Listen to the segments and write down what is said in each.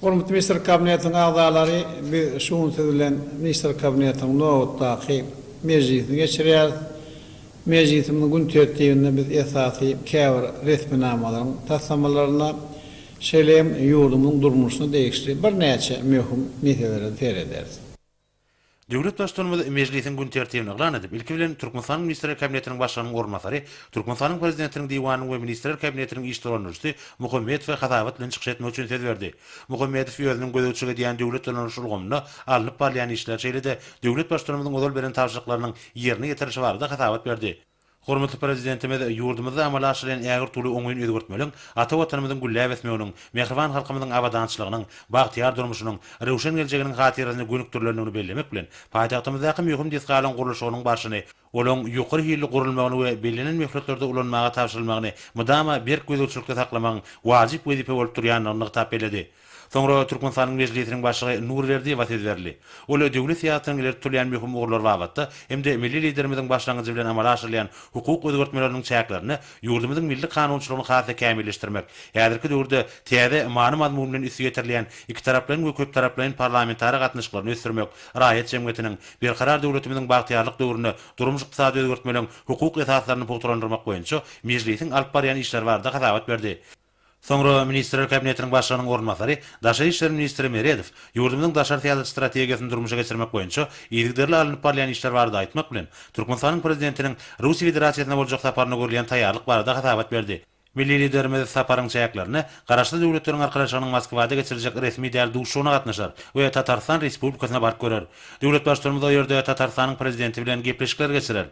Hormatly Ministr Kabinetiniň agzalary, biz şu gün siz bilen Ministr Kabinetiniň nobatdaky mejlisini geçirýäris. Mejlisimiziň gün tertibinde biz esasy käbir resminamalaryň taslamalaryna, Şeýle hem ýurdumyzyň durmuşyna degişli birnäçe möhüm meselelere serederis. Döwlet Baştutanymyz Mejlisiň gün tertibini yglan edip, ilki bilen, Türkmenistanyň Ministrler Kabinetiniň Başlygynyň orunbasary, Türkmenistanyň Prezidentiniň Diwanynyň we Ministrler Kabinetiniň iş dolandyryjysy Muhammedowa hasabat bilen çykyş etmek üçin söz berdi. Muhammedow özüniň gözegçilik edýän döwlet dolandyryş ulgamynda alnyp barylýan işler, şeýle-de döwlet Baştutanymyzyň ozal beren tabşyryklarynyň ýerine ýetirilişi barada hasabat berdi. Hormatly Prezidentimiz ýurdumyzda amala aşyrýan ägirt uly oňyn özgertmeleriň ata Watanymyzyň gülläp ösmeginiň, mähriban halkymyzyň abadançylygynyň, bagtyýar durmuşynyň, röwşen geljeginiň hatyrasyna gönükdirilendigini bellemek bilen, paýtagtymyzdaky möhüm desgalaryň gurluşygynyň barşyny, olaryň ýokary hilli gurulmagyny we bellenen möhletlerde ulanmaga tabşyrylmagyny mydama berk gözegçilikde saklamagyň wajyp wezipe bolup durýandygyny nygtap belledi. Soňra Türkmenistanyň Mejlisiniň Başlygy Nurberdiýewa söz berildi. Ol döwlet syýasatynyň ileri tutulýan möhüm ugurlary babatda hem-de milli Liderimiziň başlangyjy bilen amala aşyrylýan hukuk özgertmeleriniň çäklerinde ýurdumyzyň milli kanunçylygyny has-da kämilleşdirmek, häzirki döwürde täze many-mazmun bilen üsti ýetirilýän ikitaraplaýyn we köptaraplaýyn parlamentara gatnaşyklaryny ösdürmek, raýat jemgyýetiniň Berkarar döwletimiziň bagtyýarlyk döwründe durmuş-ykdysady özgertmeleriň hukuk esaslaryny pugtalandyrmak boýunça Mejlisiň alyp barýan işleri barada hasabat berdi. Soňra Ministrler Kabinetiniň Başlygynyň orunbasary, daşary işler ministri Meredow ýurdumyzyň daşary syýasat strategiýasyny durmuşa geçirmek boýunça yzygiderli alnyp barylýan işler barada aýtmak bilen, Türkmenistanyň Prezidentiniň Russiýa Federasiýasyna boljak saparyna görülýän taýýarlyk barada hasabat berdi. Milli Liderimiz saparyň çäklerinde Garaşsyz Döwletleriň Arkalaşygynyň Moskwada geçiriljek resmi däl duşuşygyna gatnaşar we Tatarystan Respublikasyna baryp görer. Döwlet Baştutanymyz o ýerde Tatarystanyň Prezidenti bilen gepleşikler geçirer.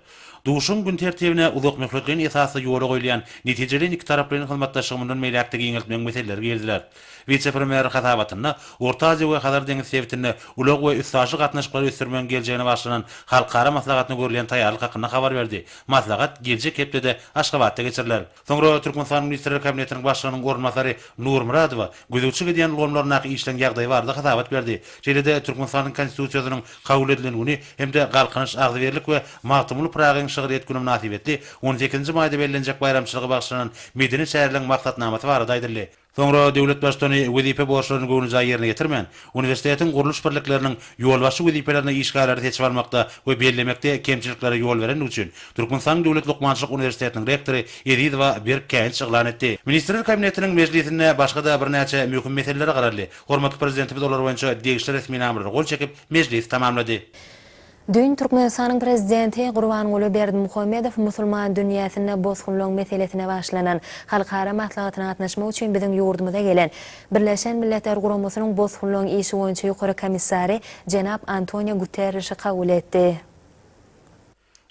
Duşuşygyň gün tertibine uzakmöhletleýin esasda ýola goýulýan netijeli ikitaraplaýyn hyzmatdaşlygy mundan beýläk-de giňeltmegiň meseleleri giriziler. Wise-premýer hasabatynda Orta Aziýa we Hazar deňizi sebitinde ulag we üstaşyr gatnaşyklary ösdürmegiň geljegine bagyşlanan halkara maslahatyna görülýän taýýarlyk hakynda habar berdi. Maslahat geljek hepdede Aşgabatda geçiriler. Soňra Türkmenistanyň Ministrler Kabinetiniň Başlygynyň orunbasary Nurmyradowa gözegçilik edýän ulgamlaryndaky işleň ýagdaýy barada hasabat berdi. Şeýle-de Türkmenistanyň Konstitusiýasynyň kabul edilen güni hem-de Galkynyş, Agzybirlik we Magtymguly Pyragyň şygryýet güni mynasybetli on sekizinji maýda bellenjek baýramçylyga bagyşlanan medeni çäreleriň maksatnamasy barada aýdyldy. Soňra döwlet baştutany wezipe borçlaryny göwnejaý ýerine ýetirmän, uniwersitetiň gurluş birlikleriniň ýolbaşçy wezipelerine işgärleri seçip almakda we bellemekde kemçiliklere ýol berendigi üçin Türkmenistanyň Döwlet lukmançylyk uniwersitetiniň rektory Ezizowa berk käýinç yglan etdi. Ministrler Kabinetiniň mejlisinde başga-da birnäçe möhüm meselelere garaldy. Hormatly Prezidentimiz olar boýunça degişli resminamalary gol çekip, mejlisi tamamlady. Düýn Türkmenistanyň Prezidenti Gurbanguly Berdimuhamedow musulman dünýäsinde bosgunlaryň meselesine başlanan halkara maslahatyna gatnaşmak üçin biziň ýurdumyza gelen Birleşen Milletler Guramasynyň bosgunlaryň işi boýunça Ýokary komissary jenap Antonio Guterrişi kabul etdi.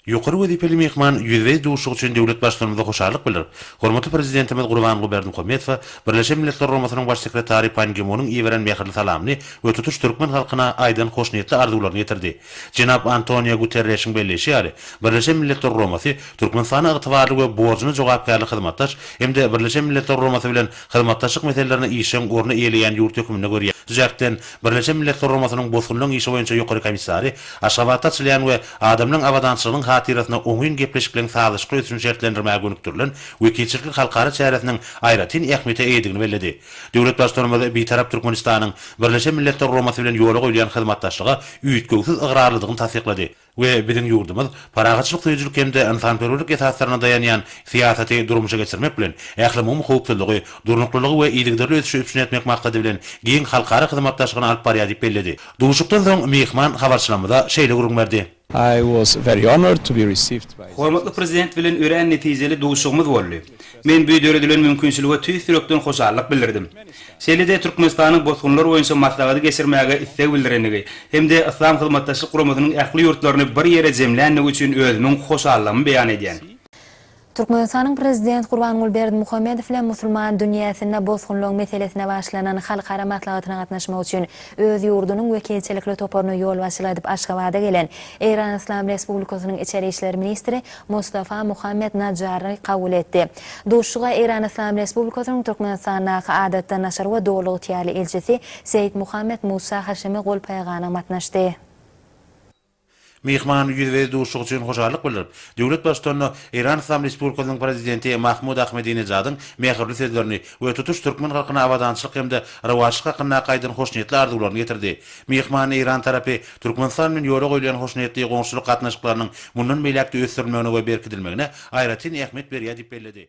Ýokary wezipeli myhman ýüzbe-ýüz duşuşyk üçin döwlet Baştutanymyza hoşallyk bildirip, hormatly Prezidentimiz Gurbanguly Berdimuhamedowa Birleşen Milletler Guramasynyň Baş sekretary Pan Gi Munyň iberen mähirli salamyny we tutuş türkmen halkyna aýdan hoşniýetli arzuwlaryny ýetirdi. Jenap Antonio Guterreşiň belleýşi ýaly, Birleşen Milletler Guramasy Türkmenistana ygtybarly we borjuna jogapkärli hyzmatdaş hem-de Birleşen Milletler Guramasy bilen hyzmatdaşlyk meselelerini işjeň orny eýeleýän ýurt hökmünde görýär. Şu jähtden, Birleşen Milletler Guramasynyň Bosgunlaryň işi boýunça Ýokary komissary Aşgabatda açylýan we adamlaryň abadançylygynyň hatyrasyna oňyn gepleşikligiň sazlaşykly ösüşini şertlendirmäge gönükdirilen wekilçilikli halkara çäresiniň aýratyn ähmiýete eýedigini belledi. Döwlet Baştutanymyz Bitarap Türkmenistanyň Birleşen Milletler Guramasy bilen ýola goýulýan hyzmatdaşlyga üýtgewsiz ygrarlydygyny tassyklady we biziň ýurdumyz parahatçylyk söýüjilik hem-de ynsanperwerlik esaslaryna daýanýan syýasaty durmuşa geçirmek bilen, ählumumy howpsuzlygy, durnuklylygy we yzygiderli ösüşi üpjün etmek maksady bilen giň halkara hyzmatdaşlygyny alyp barýar diýip belledi. Duşuşykdan soň myhman habarçylarymyza şeýle gürrüň berdi. Hormatly Prezident bilen örän netijeli duşugymyz boldy. Men bu döredilen mümkinçilige tüýs ýürekden hoşallyk bildirdim. Şeýle-de Türkmenistanyň Bosgunlar boýunça maslahady geçirmäge isleg bildirendigi hem-de Yslam Hyzmatdaşlyk Guramasynyň ähli ýurtlaryny bir ýere jemländigi üçin özümiň hoşallygymy beýan edýän. Türkmenistanyň Prezident Gurbanguly Berdimuhamedow bilen musulman dünýäsinde bosgunlygyň meselesine başlanan halkara maslahatyna gatnaşmak üçin öz ýurdunyň wekilçilikli toparyna ýolbaşçylyk edip Aşgabada gelen Eýran Yslam Respublikasynyň içeri işler ministri Mustafa Muhammed Najjary kabul etdi. Duşuşyga Eýran Yslam Respublikasynyň Türkmenistandaky Adatdan daşary we Doly ygtyýarly ilçisi Seýit Muhammed Musa Haşimi Golpaýaganow gatnaşdy. Myhman ýüzbe-ýüz duşuşyk üçin hoşallyk bildirip, döwlet Baştutanyna Eýran Yslam Respublikasynyň Prezidenti Mahmud Ahmedinejadyň mähirli sözlerini we tutuş türkmen halkyna abadançylyk hem-de rowaçlyk hakyndaky aýdan hoşniýetli arzuwlaryny ýetirdi. Myhman eýran tarapy Türkmenistan bilen ýola goýulýan hoşniýetli goňşulyk gatnaşyklarynyň mundan beýläk-de ösdürilmegine we berkidilmegine aýratyn ähmiýet berýär diýip belledi.